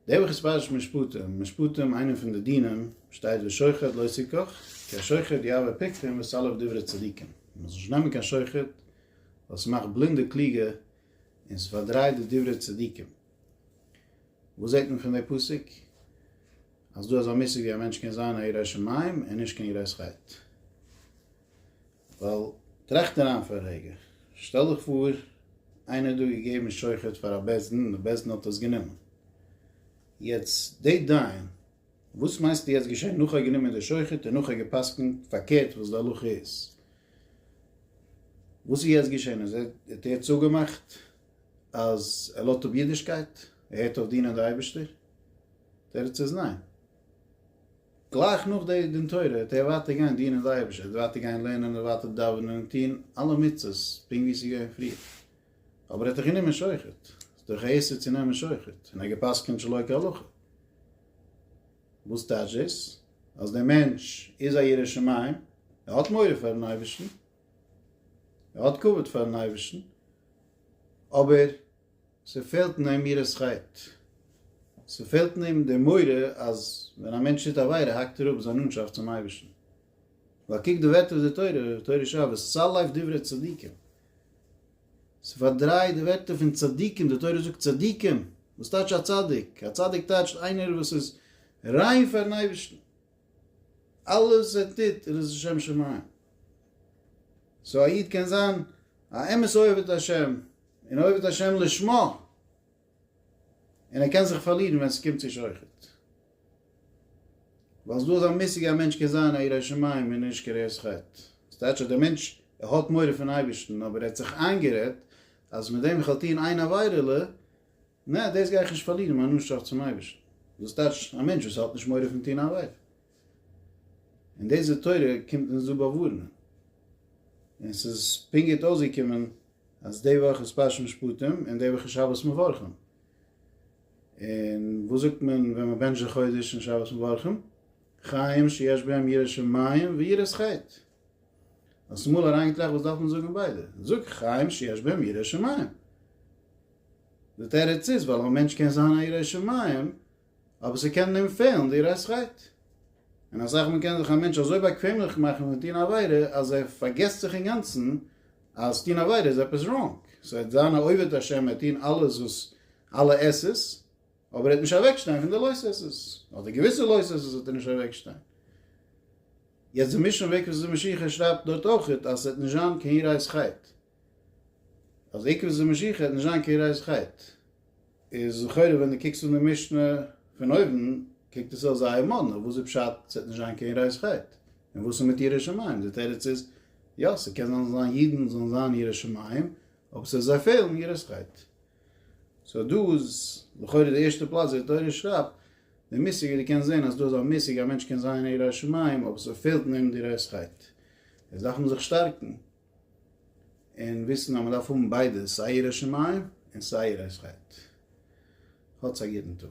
דער בוך איז פרשת משפטים, משפטים איינע פון די דינים, שטייט ושוחד לא תיקח, כי השוחד יעבור פיקחים וסלף דברי צדיקים, מען זאל נישט נעמען קיין שוחד, ווייל ס'מאכט בלינדע קלוגע און ס'פארדרייט די דברי צדיקים. וואס זעט מען פון די פסוק? אז דא אזא מושג ווי א מענטש קען זיין א ירא שמים און נישט קיין יראת חטא. ווייל, טראכט אריין פאר א רגע, שטעל דיך פאר איינער האט דא געגעבן שוחד פאר א בית דין און די בית דין האט עס גענומען, יעצט די דיין, וואס מיינסטו יעצט געשען נאך ער האט גענומען די שוחד און נאך ער האט גע'פסק'נט פארקערט וואס די הלכה איז, וואס איז יעצט געשען אז ער האט ער האט צוגעמאכט אז ער לאזט אפ אידישקייט, ער הערט אויף דינען די אייבערשטער? די תירוץ איז ניין, גלייך נאך די דין תורה וועט ער ווייטער גיין דינען די אייבערשטער, ער וועט ווייטער גיין לערנען, ער וועט ווייטער דאווענען און טוהן אלע מצוות פונקט ווי עס איז געווען פריער, אבער ער האט דאך גענומען שוחד, ס'איז דאך א איסור צו נעמען שוחד, און ער האט גע'פסק'ענט שלא כהלכה. וואס טייטש דאס? אז דער מענטש איז א ירא שמים, ער האט מורא פאר'ן אייבערשטן, ער האט כבוד פאר'ן אייבערשטן, אבער ס'פעלט אין אים יראת חטא. ס'פעלט אין אים די מורא אז ווען א מענטש טוט עבירה האקט ער אפ זיין נאנטשאפט צום אייבערשטן. ווייל קוק די ווערטער פון די תורה, תורה שעה, וצל לב דברי צדיקים. ס'פארדרייט די ווערטער פון צדיקים, די תורה זאגט צדיקים. וואס טייטש א צדיק? א צדיק טייטשט איינער וואס איז ריין פארן אייבערשטן. אלעס וואס ער טוט איז עס לשם שמים. סאו א איד קען זיין א אמת אוהב את ה', און עובד השם לשמה, און ער קען זיך פארלירן ווען ס'קומט צו שוחד, ווייל ס'דא אזא מושג א מענטש קען זיין א ירא שמים און נישט קרע את חטא, ס'טייטש אז דער מענטש ער האט מורא פון אייבערשטן אבער ער האט זיך איינגערעדט אז מיט דעם איך וועל טון איין עבירה'לע, נע דאס גיי איך נישט פארלירן מיין נאנטשאפט צום אייבערשטן, דאס טייטש א מענטש וואס האט נישט מורא פון טון א עבירה. און דיזע תורה קומט אונז דא באווארענען, און ס'איז פונקט גוט אויסגעקומען אז די וואך איז פרשת משפטים און די וואך איז שבת מברכים, און וואס זאגט מען ווען מען בענטשט די חודש אין שבת מברכים? חיים שיש בהם יראת שמים ויראת חטא. האסט אמאל אריינגעטראכט וואס דארף מען זאגן אין ביידע? זאג חיים שיש בהם יראת שמים. די תירוץ איז ווייל אויב א מענטש קען זיין א ירא שמים אבער ס'קען אים פעלן די רייסכייט, און א זאך, מ'קען זיך א מענטש אזוי באקוועמליך מאכן פון טון א עבירה אז ער פארגעסט זיך אינגאנצן אז טון עבירה איז עפעס ראנג, ס'וועט זיין א עובד השם, ער וועט טון אלעס וואס אלע עס עס, אבער ער וועט נישט אוועקשטיין פון די לוי'ס עס עס, אדער געוויסע לוי'ס עס עס וועט ער נישט אוועקשטיין. יעצט די מישן וועג וואס די משיח'ער שרייבט דארט אויך אז ס'וועט נישט זיין קיין רייסכייט. אז עיקר זו משיחא וועט נישט זיין קיין רייס חייט, איז לכאורה ווען דו קוקסט אן די משנה פון אויבן קוקט עס אויס זייער מאדנע, וואס איז פשט ס'וועט נישט זיין קיין רייס חייט? און וואס איז מיט ירא שמים? די תירוץ איז, יא ס'קען זיין ס'זאל זיין אידן זאלן זיין ירא שמים, אבער ס'וועט זיי פעלן יראת חייט. סאו דא איז לכאורה די ערשטע פלאץ ווי די תורה שרייבט די מושג, ווי דו קענסט זען אז דא איז א מושג א מענטש קען זיין ירא שמים אבער ס'פעלט אין אים די רייס חייט, עס דארף מען זיך שטארקן און וויסן אז מען דארף האבן ביידע סיי יראת שמים און סיי יראת חטא. האטס א גוטן טאג.